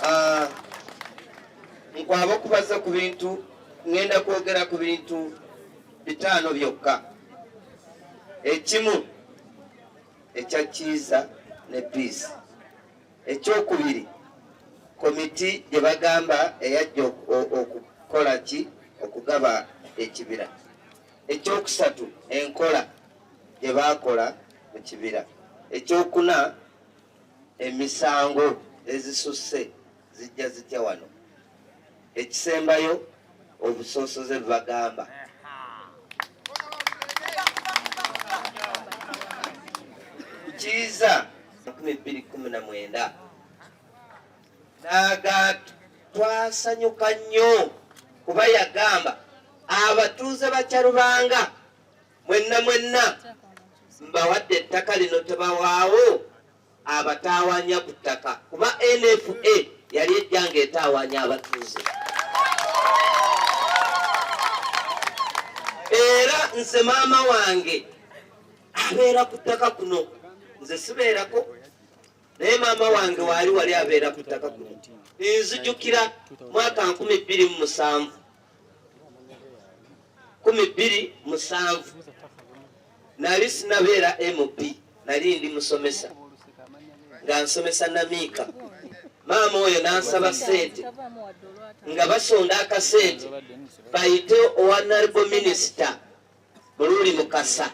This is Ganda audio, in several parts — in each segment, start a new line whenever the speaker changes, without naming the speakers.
ah, nkwaba okubaza ku bintu ŋŋenda kwogera ku bintu bitaano byokka ekimu ekya kiiza ne piisi ekyokubiri komiti gye bagamba eyajja okukola ki okugaba ekibira Ekyokusatu, enkola gye baakola mu kibira. Ekyokuna, emisango ezisusse zijja zitya wano. Ekisembayo, obusosoze bwe bagamba kiiza 2019 n'aga twasanyuka nnyo kuba yagamba abatuuze ba Kyarubanga mwenna mwenna mbawadde ettaka lino tebawaawo abataawanya ku ttaka kuba NFA yali ejja ng'etaawanya abatuuze era nze maama wange abeera ku ttaka kuno nze sibeerako naye maama wange waali wali abeera ku ttaka kuno nzijukira mwaka nkumi bbiri mu musanvu kumi bbiri musanvu nali sinabeera mp nali ndi musomesa nga nsomesa namiika maama oyo nansaba sente nga basonda akasente bayite owanalbo minisita Muluuli Mukasa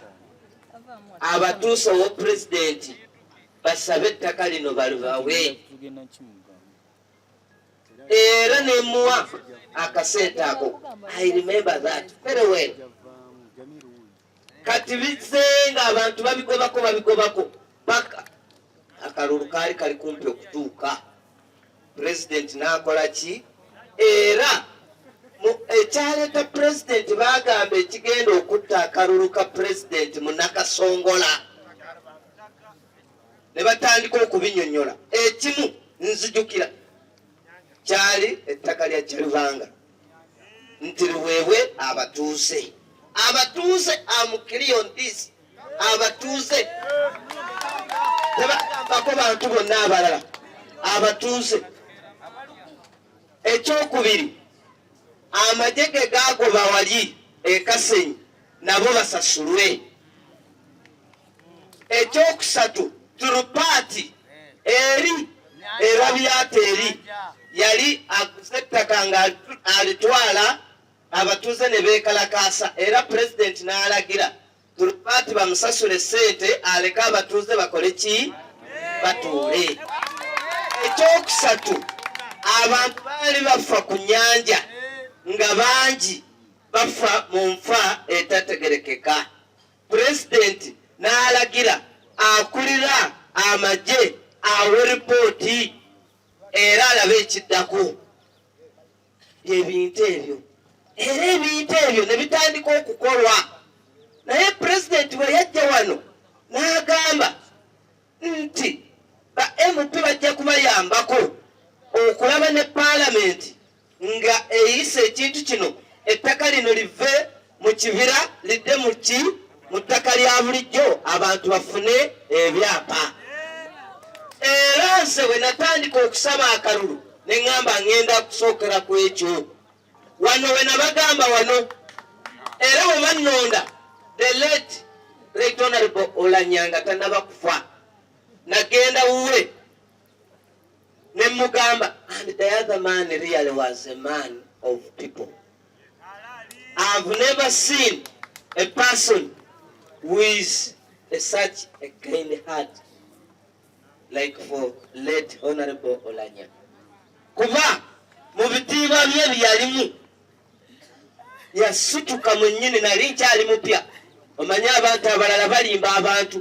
abatuusa owa pulezidenti basabe ettaka lino balibawe era nemuwa akasente ako i remember that very well kati bizze nga abantu babigobako babigobako paka akalulu kaali kali kumpi okutuuka pulezidenti n'akola ki era ekyaleeta pulezidenti baagamba ekigenda okutta akalulu ka pulezidenti munakasongola ne batandika okubinyonyola ekimu nzijukira kyali ettaka lya kyalubanga nti luweebwe abatuuze abatuuze amukiriyondis abatuuze tebagambako bantu bonna abalala abatuuze ekyokubiri amagye ge gaagoba wali ekasenyi nabo basasulwe ekyokusatu turupaati eri era byata eri yali aguze ettaka nga alitwala abatuuze ne beekalakaasa era pulezidenti n'alagira turupaati bamusasule ssente aleke abatuuze bakole ki batuule ekyokusatu abantu baali bafa ku nyanja nga bangi bafa mu nfa etategerekeka Pulezidenti n'alagira akulira amagye awe ripooti era alabe ekiddako byebintu ebyo era ebintu ebyo ne bitandika okukolwa naye pulezidenti bwe yajja wano n'agamba nti ba mp bajja kubayambako okulaba ne paalamenti nga eyisa ekintu kino ettaka lino live mu kibira lidde mu ki mu ttaka lya bulijjo abantu bafune ebyapa era nze bwe natandika okusaba akalulu ne ŋŋamba ŋŋenda kusookera ku ekyo wano we nabagamba wano era bwe bannonda the late right honorable olanyanga tanaba kufa nagenda wuwe ne mugamba and the other man really was a man of people I've never seen a person with a such a kind heart like for late honorable Olanya kuba mu bitiibwa bye byalimu yasituka mwennyini nali nkyali mupya omanyi abantu abalala balimba abantu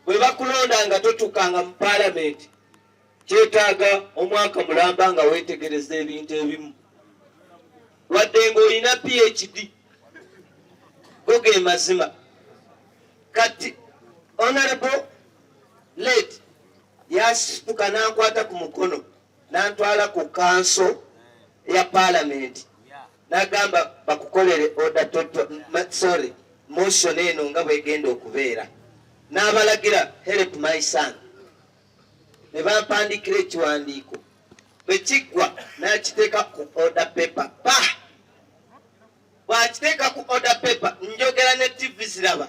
bwe bakulonda nga totukanga mu paalamenti kyetaaga omwaka mulamba nga weetegereza ebintu ebimu wadde ng'olina phd go ge mazima kati honorable late yasituka n'ankwata ku mukono nantwala ku kanso ya palamenti nagamba bakukolere oda sorry motion eno nga bwegenda okubeera n'abalagira help my son ne bampandikira ekiwandiiko bwe kiggwa n'akiteeka ku order paper pa bw'akiteeka ku order paper njogera ne ttivi ziraba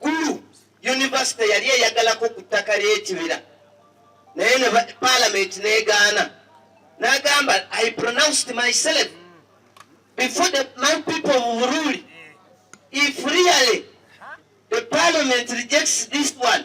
Gulu yunivasite yali eyagalako ku ttaka ly'ekibira naye ne palamenti n'egaana n'agamba i pronounced myself before the my people of Buruli if really the parliament rejects this one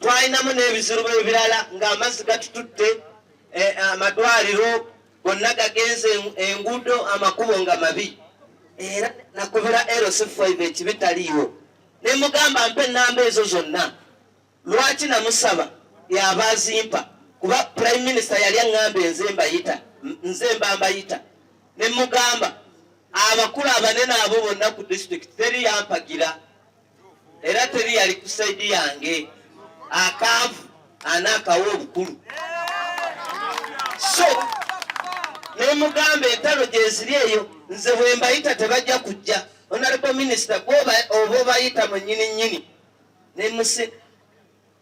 twalinamu n'ebizibu ebirala ng'amazzi gatututte eh, amadwaliro gonna gagenze enguudo amakubo nga mabi era nakubira lc5 ekibi taliiwo ne mugamba mpa ennamba ezo zonna lwaki namusaba yaba azimpa kuba prime minister yali aŋŋamba enze mbayita nze mba mbayita ne mugamba abakulu abanene abo bonna ku disitulikiti teri yampagira era teri yali ku saidi yange akaavu ana akawa obukulu so nemugamba entalo gyeziri eyo nze bwembayita tebajja kujja onalebo minisita gwoba oba obayita mwenyini nyini nemusi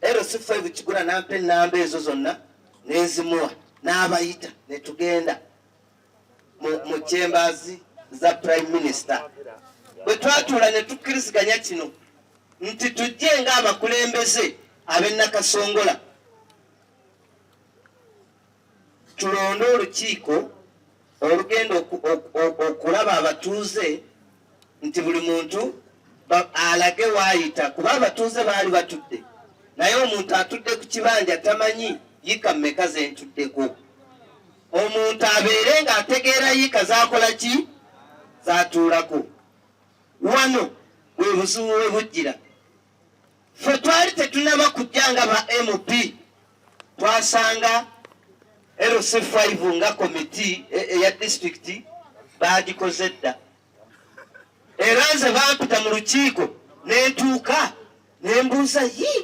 ero sifa ebukigula nampa enamba ezo zonna nenzimuwa n'abayita netugenda mu chambers za prime minister bwe twatuula ne tukkiriziganya kino nti tujje ng'abakulembeze ab'ennakasongola tulonde olukiiko olugenda okulaba abatuuze nti buli muntu alage waayita kuba abatuuze baali batudde naye omuntu atudde ku kibanja tamanyi yika mmeka ze ntuddeko omuntu abeere nga ategeera yiika zakola ki zatuulako wano bwe buzibu we bujjira fe twali tetunaba kujja nga ba mp twasanga lc5 nga komiti e, eya disitulikiti baagikoze dda era nze bampita mu lukiiko nentuuka nembuuza yi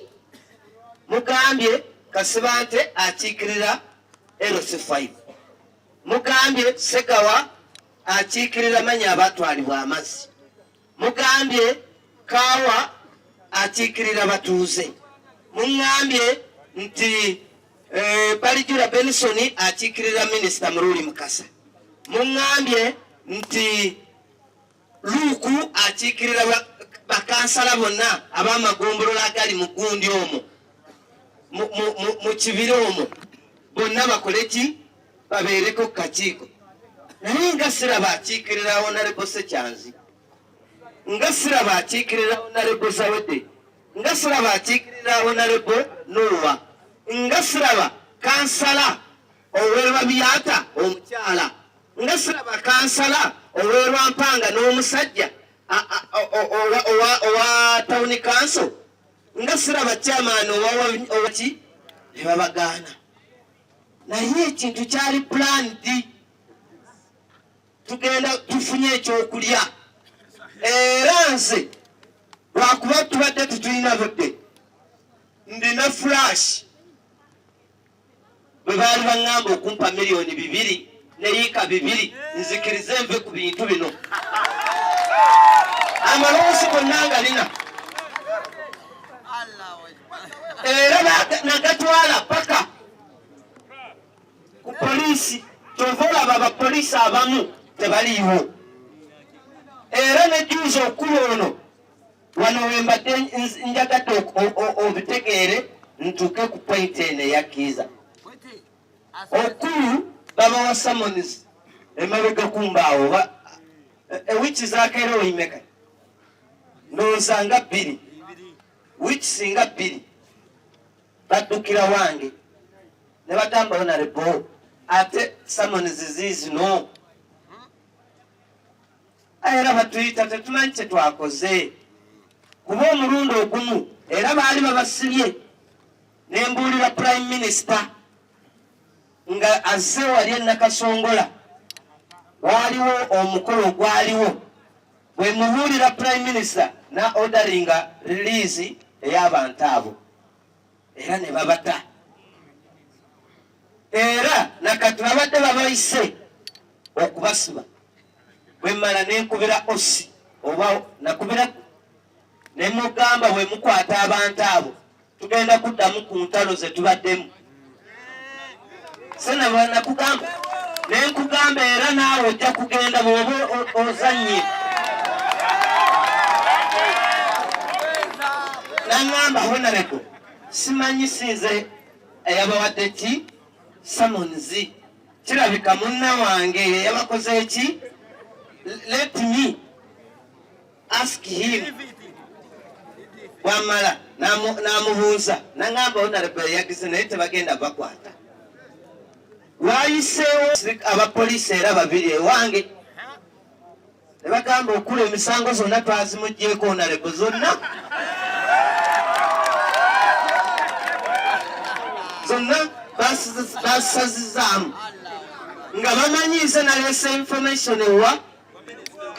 mugambye kasibante akiikirira lc5 mugambye segawa akiikirira manya abatwalibwa amazzi mugambye kaawa akiikirira batuuze muŋambye nti Eh, Balijula Benson akiikirira minisita Muluuli Mukasa muŋŋambye nti Luuku akiikirira bakansala bonna ab'amagombolola agali mu gundi omwo mu kibira omwo bonna bakole ki babeereko ku kakiiko naye nga siraba akiikirira onalebo sekyanzi nga siraba akiikirira onalebo zawedde nga siraba akiikirira honalebo nuuwa nga siraba kansala ow'ebabyata omukyala nga siraba kansala ow'erwampanga n'omusajja owa tawuni kanso nga siraba kyamaani owaki ne babagaana naye ekintu kyali pulani di tugenda tufunye ekyokulya era nze lwakuba tubadde tutulina budde ndina flash bwe baali baŋŋamba okumpa miliyoni bibiri neyiika bibiri nzikirize nve ku bintu bino amaloosi gonna ngalina era nagatwala paka ku poliisi kyova olaba abapoliisi abamu tebaliiwo era nejuuza okulu ono wano wembadde njagadde obitegeere ntuuke ku pointi eno eyakkiiza okulu babawa samonis emabega kumbaawo ewiki zakeera oyimeka ndowooza nga bbiri wiki singa bbiri baddukira wange ne bagamba onarebo ate summons ziizino era batuyita tetumanyi kye twakoze kuba omulundi ogumu era baali babasibye ne mbuulira prime minister nga azze wali enakasongola waaliwo omukolo ogwaliwo bwe mubuulira prime minister na odaringa release ey'abantu abo era ne babata era nakati babadde babayise okubasiba bwemmala nenkubira osi oba nakubira nemugamba bwemukwata abantu abo tugenda kuddamu ku ntalo ze tubaddemu sena bwanakugamba naye nkugamba era naawe ojja kugenda bwoba ozannye nangamba honarebo simanyi sinze eyabawadde ki samonzi kirabika munna wange yeyabakoze eki let me ask him wamala namubuuza nangamba onarebo yagize naye tebagenda bakwata wayiseewo abapoliisi era babiri ewange nebagamba okula emisango zonna twazimugyeko onarebo zonna zonna basazizaamu nga bamanyiize nalesa information ewa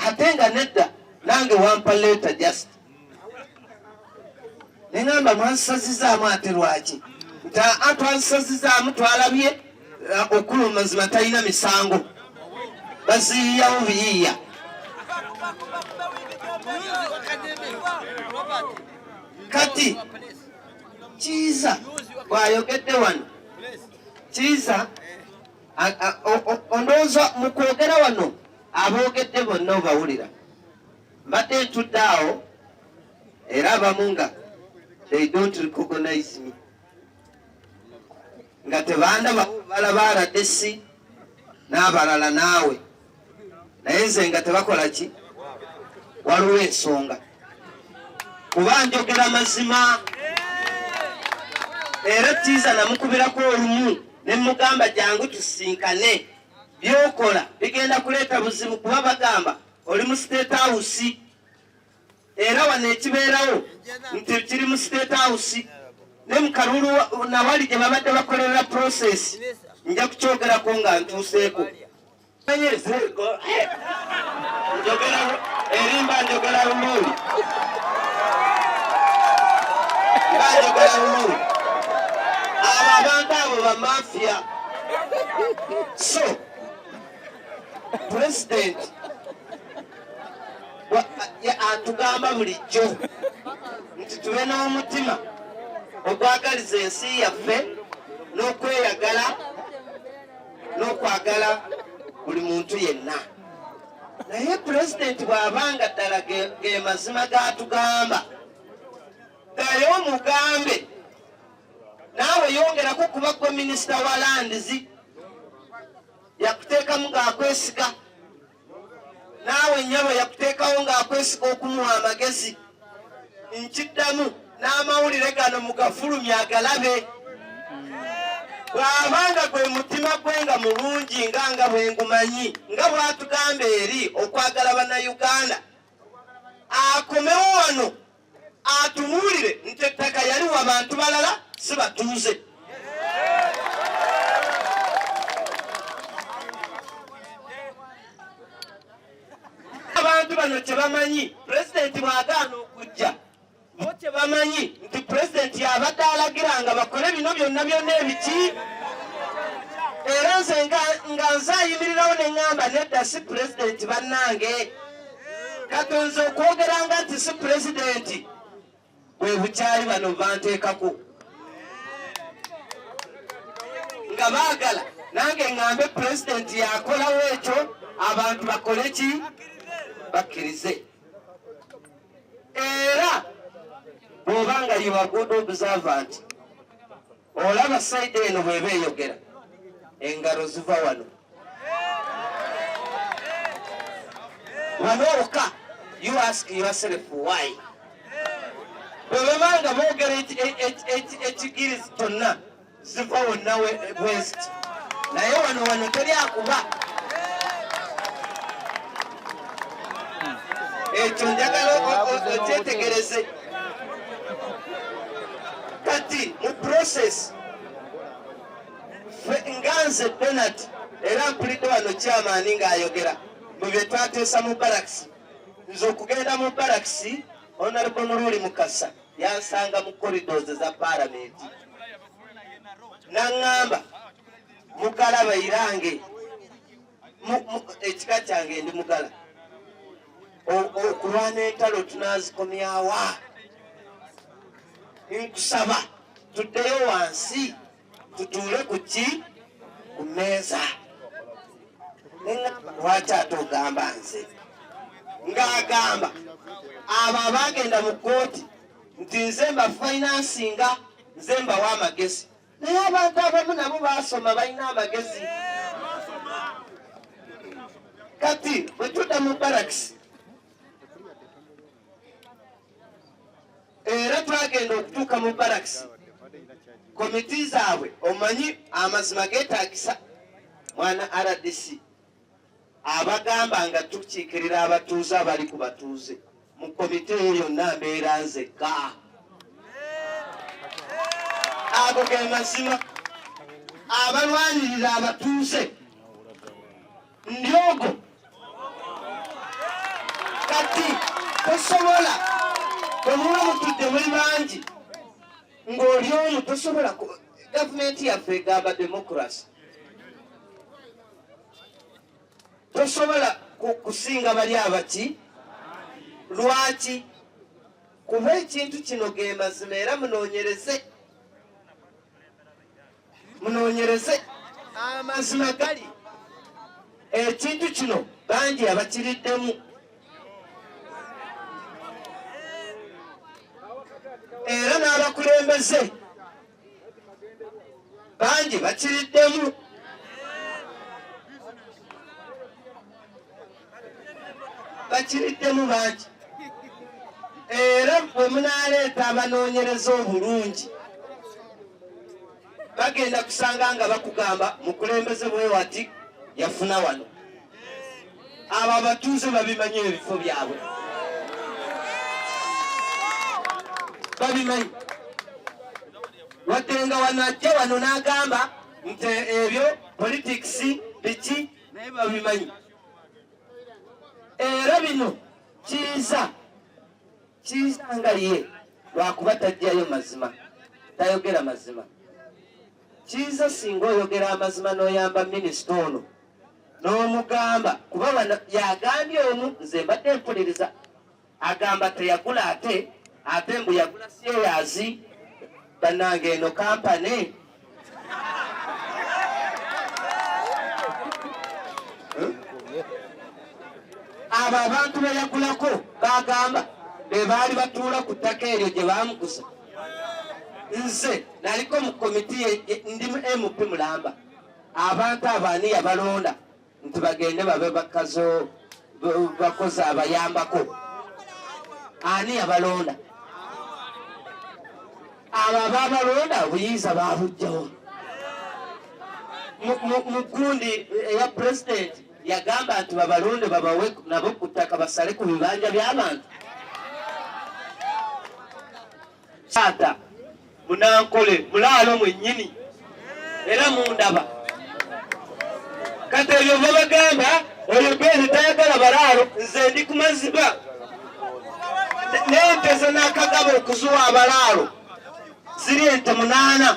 ate nga nedda nange wampa leeta just neŋamba mwansazizaamu ate lwaki nti a twansazizaamu twalabye uh, okulu mazima talina misango baziyiyawo biyiiya kati kiiza bwayogedde wano kiiza ondowooza mu kwogera wano aboogedde bonna obawulira mbadde ntudde awo era abamu nga they don't recognize me nga tebandaba balaba aladesi n'abalala naawe naye nze nga tebakola ki waliwo ensonga kuba njogera mazima era tiiza namukubirako olumu ne mugamba jangu tusinkane byokola bigenda kuleeta buzibu kuba bagamba oli mu state house era wano ekibeerawo nti kiri mu state house ne mu kalulu nawali gye babadde bakolerera process nja kukyogerako nga ntuuseeko enyezeeko njogera erimba njogera lumuuli mba njogera lumuuli abo abantu abo bamafia so president atugamba bulijjo nti tube n'omutima ogwagaliza ensi yaffe n'okweyagala n'okwagala buli muntu yenna naye pulezidenti bw'aba nga ddala ge mazima gatugamba ddayo omugambe naawe yongerako kuba gwe minisita wa landizi yakuteekamu ng'akwesiga naawe nyabo yakuteekawo ng'akwesiga okumuwa amagezi nkiddamu n'amawulire gano mugafulumya agalabe bw'aba nga gwe mutima gwe nga mulungi nga nga bwe ngumanyi nga bw'atugamba eri okwagala bannayuganda akomewo wano atubuulire nti ettaka yali wa bantu balala si batuuze abantu bano kyebamanyi pulezidenti bwagaana okujja bo kyebamanyi nti pulezidenti yabadde alagira nga bakole bino byonna byonna ebiki era nze nga nze ayimirirawo ne ŋŋamba nedda si pulezidenti bannange katonze okwogeranga nti si pulezidenti bwe bukyali bano banteekako nga baagala nange ŋŋambe pulezidenti yakolawo ekyo abantu bakole ki bakkirize era bw'oba nga yibaguuda obusava nti olaba saidi eno bweba eyogera engalo ziva wano wanooka you ask yourself why bwebabanga boogera ekigirizi kyonna ziva wonna west naye wano wano teri akuba ekyo njagala okyetegereze kati mu process nga nze donat era mpulidde wano kyamaani ng'ayogera mu bye twateesa mu barakisi nze okugenda mu barakisi onalebo muluuli mukasa yansanga mu corridors za palamenti naŋŋamba mukalaba irange ekika kyange ndi mugala okulwana entalo tunazikomyawa nkusaba tuddeyo wansi tutuule ku ki ku mmeeza neŋamba lwaki ate ogamba nze ng'agamba abo abaagenda mu kkooti nti nze mbafainansinga nze mbawa amagezi naye abantu abamu nabo baasoma balina amagezi kati bwe tudda mu barakisi era twagenda okutuuka mu barakisi komiti zaabwe omanyi amazima geetagisa mwana rdc abagamba nga tukiikirira abatuuze abali ku batuuze mu komite eyo yonna mbeera nzekka ago ge mazima abalwanirira abatuuze ndyogo kati tosobola bwemuba mutudde muli bangi ng'oli omu tosobola Gavumenti yaffe egamba democracy tosobola kusinga bali abaki lwaki kuba ekintu kino ge mazima era munoonyereze munoonyereze amazima gali ekintu kino bangi abakiriddemu era n'abakulembeze bangi bakiriddemu bakiriddemu bangi era bwe munaaleeta abanoonyereza obulungi bagenda kusanga nga bakugamba mukulembeze bwewati yafuna wano abo abatuuze babimanyi ebifo byabwe babimanyi wadde nga wano ajja wano n'agamba nti ebyo politics biki naye babimanyi era bino kiiza kiyisanga ye lwakuba tajjayo mazima tayogera mazima kiyiza singa oyogera amazima n'oyamba minisita ono n'omugamba kuba wano yagambye omu nze mbadde mpuliriza agamba teyagula ate ate mbu yagula syeyazi bannange eno kampani abo abantu beyagulako bagamba bebaali batuula ku ttaka eryo gye bamukusa nze naliko mu komiti ndi mu mp mulamba abantu abaani yabalonda nti bagende babe bakazo bakozi abayambako ani yabalonda abo ababalonda obuyinza babujjawo mu kundi eya pulezidenti yagamba nti babalonde babawe nabo ku ttaka basale ku bibanja by'abantu Taata munankole mulaalo mwennyini era mundaba kati ebyo babagamba oyo bwezi tayagala balaalo nze ndi ku maziba nente zenakagaba okuzuwa abalaalo ziri ente munaana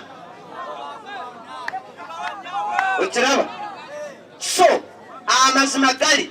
okiraba so amazima gali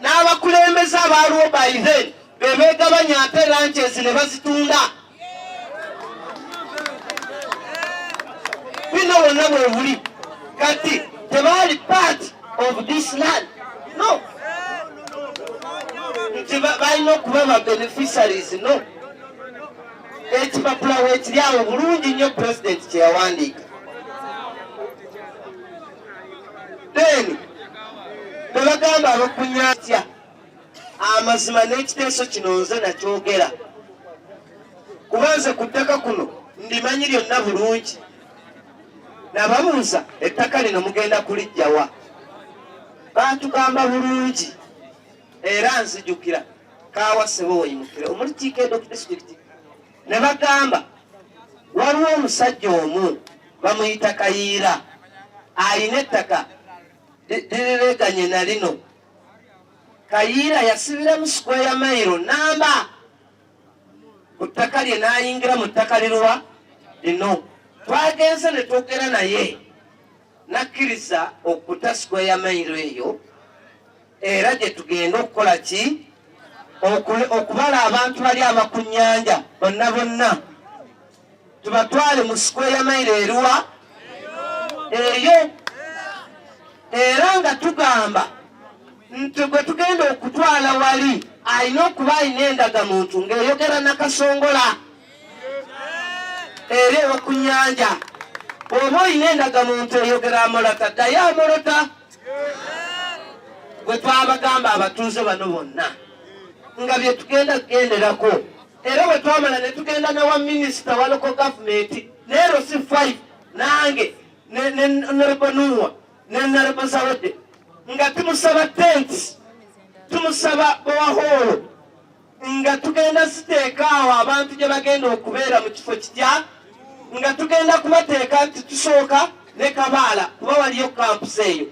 n'abakulembeze abaaliwo by then bebegabanya ate lanches ne bazitunda bino wonna bwebuli kati tebaali part of this land no nti balina okuba ba beneficiaries no ekipapula wekiri awo bulungi nnyo pulezidenti kyeyawandiika then bebagamba abakunyatya amazima n'ekiteeso kino nze nakyogera kuba nze ku ttaka kuno ndimanyi lyonna bulungi nababuuza ettaka lino mugenda kulijjawa batugamba bulungi era nzijukira kawasebo weyimukire omuli tiikedo ku disitulikiti ne bagamba waliwo omusajja omu bamuyita kayiira alina ettaka lirireganye na lino kayiira yasibiramu sikweya mayiro namba ku ttaka lye n'ayingira mu ttaka liruwa lino twagenze ne twogera naye nakkiriza okuta sikweya mairo eyo era gye tugenda okukola ki okubala abantu bali abakunyanja bonna bonna tubatwale mu sikweya mairo eruwa eyo era nga tugamba nti gwe tugenda okutwala wali alina okuba alina endagamuntu ng'eyogera nakasongola era ewa ku nyanja oba olina endagamuntu eyogera amolota ddayo amolota gwe twabagamba abatuuze bano bonna nga byetugenda kugenderako era bwe twamala ne tugenda ne wa minisita wa loko gavumenti neero si five nange nenerbonuwa nenerbo zawedde nga tumusaba tenti tumusaba bowahoolo nga tugenda siteeka awo abantu gye bagenda okubeera mu kifo kitya nga tugenda kubateeka nti tusooka ne kabaala kuba waliyo kampusi eyo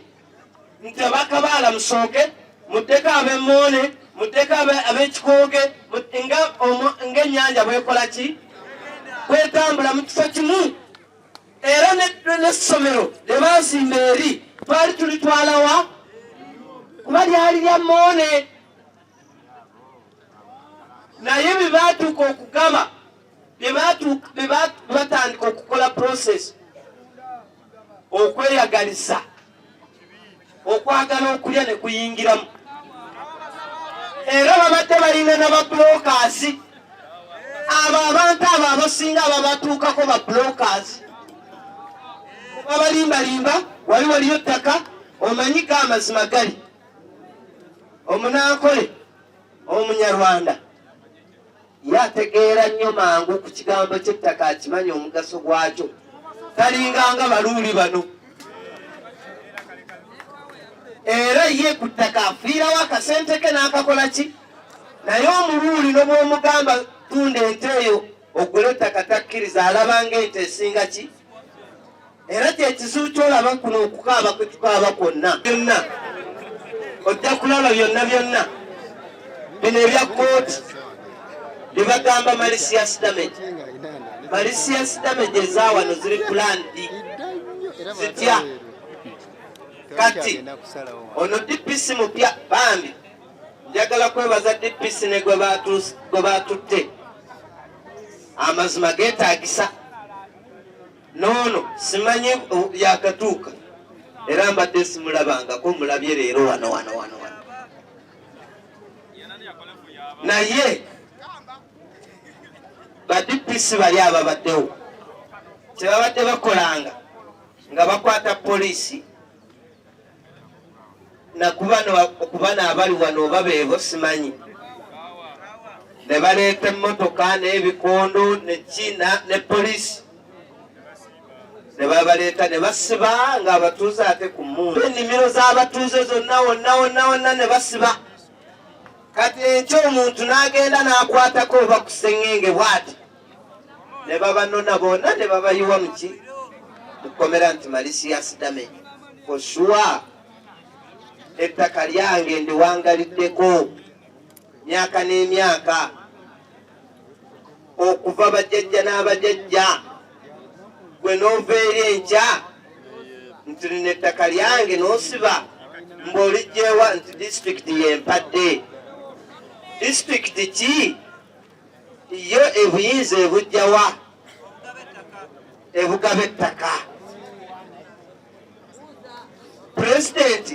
nti abakabaala musooke muddeko abemoone muddeko abekikooge ngaennyanja bwekola ki kwetambula mu kifo kimu era nessomero lyebaazimba eri twali tulitwalawa kuba lyali lya moone naye bwe baatuuka okugaba bwe batandika okukola process okweyagaliza okwagala okulya ne kuyingiramu era babadde balina na babulokaasi abo abantu abo abasinga ababatuukako babulokaasi babalimbalimba wali waliyo ttaka omanyi ga amazima gali omunankole omunyarwanda yategeera nnyo mangu ku kigambo ky'ettaka akimanya omugaso gwakyo talinganga baluuli bano era ye ku ttaka afiirawo akasente ke n'akakola ki naye omuluuli nobwomugamba tunda ente eyo ogule ettaka takkiriza alabanga ente esinga ki era kyekizibu kyolaba kuno okukaaba kwetukaaba kwonna byonna ojja kulaba byonna byonna bino ebya kooti byebagamba malicious damage malicious damage ezawano ziri plandi zitya kati ono dpc mupya bambi njagala kwebaza dpc ne gwe batutte amazima getagisa noono simanyi yakatuuka era mbadde simulabangako mulabye leero wano wano wano wano naye badipisi bali ababaddewo tebabadde bakolanga nga bakwata poliisi nakubano okubano abali wano oba beebo simanyi ne baleeta emmotoka n'ebikondo nekiina ne polisi ne babaleeta ne basiba nga abatuuze ate ku mundu ennimiro z'abatuuze zonna wonna wonna wonna ne basiba kati enkyo omuntu n'agenda n'akwatako oba ku sengenge bwati ne babanona bona ne babayiwa muki mukomera nti malisias damage for sure ettaka lyange ndiwangaliddeko myaka n'emyaka okuva bajajja n'abajajja gwe n'ova eri enkya nti lino ettaka lyange n'osiba mbaolijjewa nti disitulikiti yempadde disitulikiti ki Yo ebuyinza ebujjawa ebugaba ettaka pulezidenti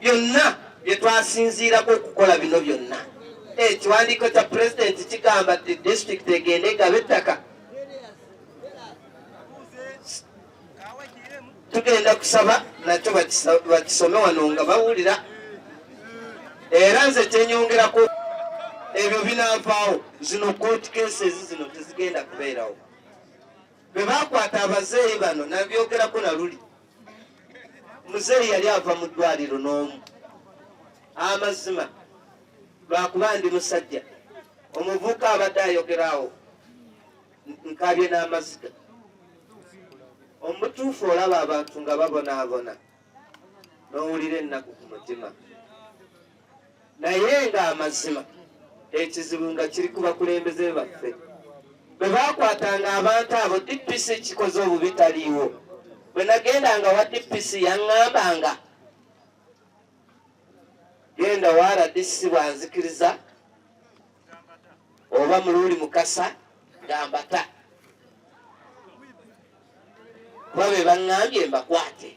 byonna bye twasinziirako okukola bino byonna ekiwandiiko kya pulezidenti kigamba nti disitulikiti egende egaba ettaka tugenda kusaba nakyo bakisome wano nga bawulira era nze kyenyongerako ebyo binavaawo zino court cases zino tezigenda kubeerawo bwe bakwata abazeeyi bano nabyogerako naluli muzeeyi yali ava mu ddwaliro n'omu amazima lwakuba ndi musajja omuvuka abadde ayogeraawo nkaabye n'amaziga omutuufu olaba abantu nga babonaabona n'owulira ennaku ku mutima naye nga amazima ekizibu nga kiri ku bakulembeze baffe bwe baakwatanga abantu abo dpc kikoze obubi taliiwo bwe nagenda nga wa dpc yaŋŋamba nga genda wa rdc bwanzikiriza oba muluuli mukasa gambata kuba be baŋŋambye mbakwate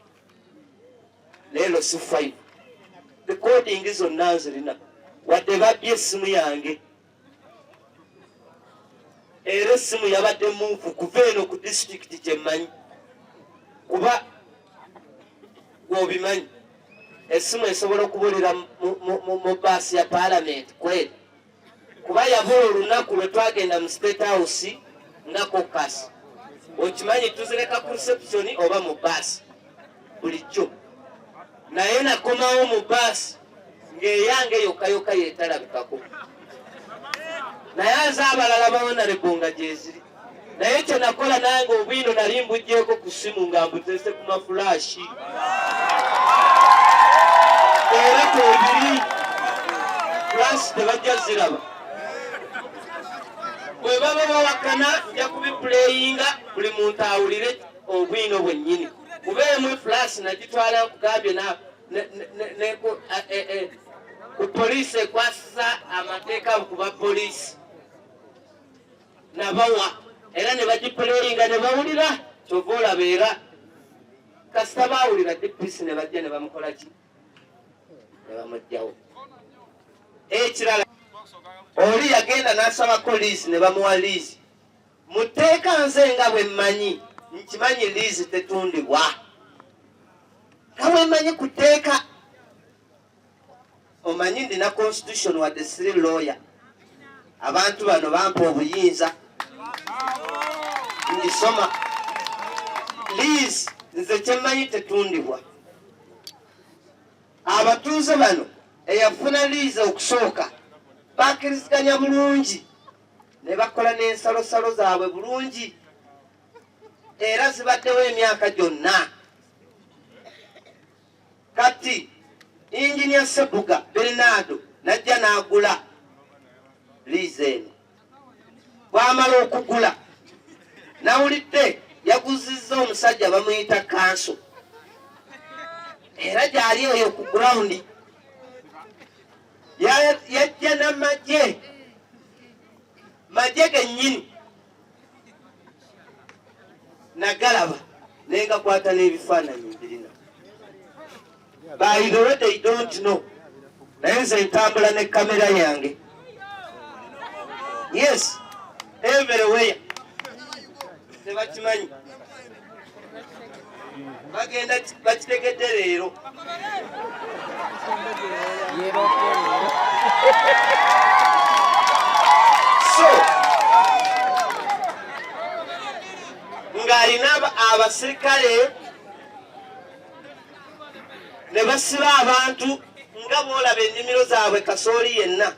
leero si five recording zonna nzirina wadde babbye essimu yange era essimu yabadde munfu kuva eno ku disitulikiti kyemmanyi kuba gwobimanyi essimu esobola okubulira mu baasi ya palamenti kweri kuba yabula olunaku lwe twagenda mu state house nga kokasi okimanyi tuzireka ku reception oba mu baasi bulijjo naye nakomawo mu baasi ng'eyange yokayoka yetalabikako naye aze abalala bawonalebonga gyeziri naye kye nakola nange obwino nali mbugyeko ku ssimu nga mbutese ku mafulaashi era kwebiri fulaasi tebajja ziraba bwe baba bawakana nja kubipuleyinga buli muntu awulire obwino bwennyini kuba emu fulaasi nagitwala nkugambye na e, e, ku poliisi ekwasisa amateeka ku ba poliisi nabawa era ne bagipuleyinga ne bawulira kyova olaba era kasita baawulira dpc ne bajja ne bamukola ki ne bamugjawo ekirala oli yagenda n'asabako liizi ne bamuwa liizi mu tteeka nze nga bwe mmanyi nkimanyi liizi tetundibwa nga bwe mmanyi ku tteeka omanyi ndina constitution wadde siri lawyer abantu bano bampa obuyinza ndisoma lease nze kyemmanyi tetundibwa abatuuze bano eyafuna lease okusooka bakiriziganya bulungi ne bakola n'ensalosalo zaabwe bulungi era zibaddewo emyaka gyonna Kati Engineer Sebuga Bernardo najja n'agula liizi eno. Bwamala okugula nawulidde yaguzizza omusajja bamuyita kanso era gyali eyo ku gurawundi yajja namagye magye gennyini nagalaba naye ngakwata n'ebifaananyi mbirina bayidowe they don't know naye nze ntambula ne kamera yange yes everywhere tebakimanyi bagenda bakitegedde leero so ng'alina abasirikale ne basiba abantu nga boolaba ennimiro zaabwe kasooli yenna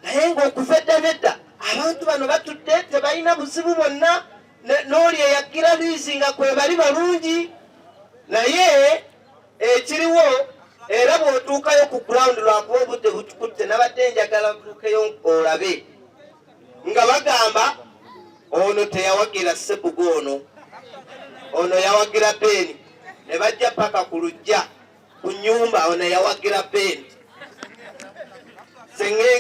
naye ng'okuva edda nedda abantu bano batudde tebalina buzibu bwonna n'oli eyagira liizi nga kwe bali balungi naye ekiriwo era bw'otuukayo ku ground lwakuba obudde butukutte nabadde njagala butuukeyo olabe nga bagamba ono teyawagira sebuga ono ono yawagira beeni ne bajja paka ku lujja ku nyumba awo nayawagira bendi sengenge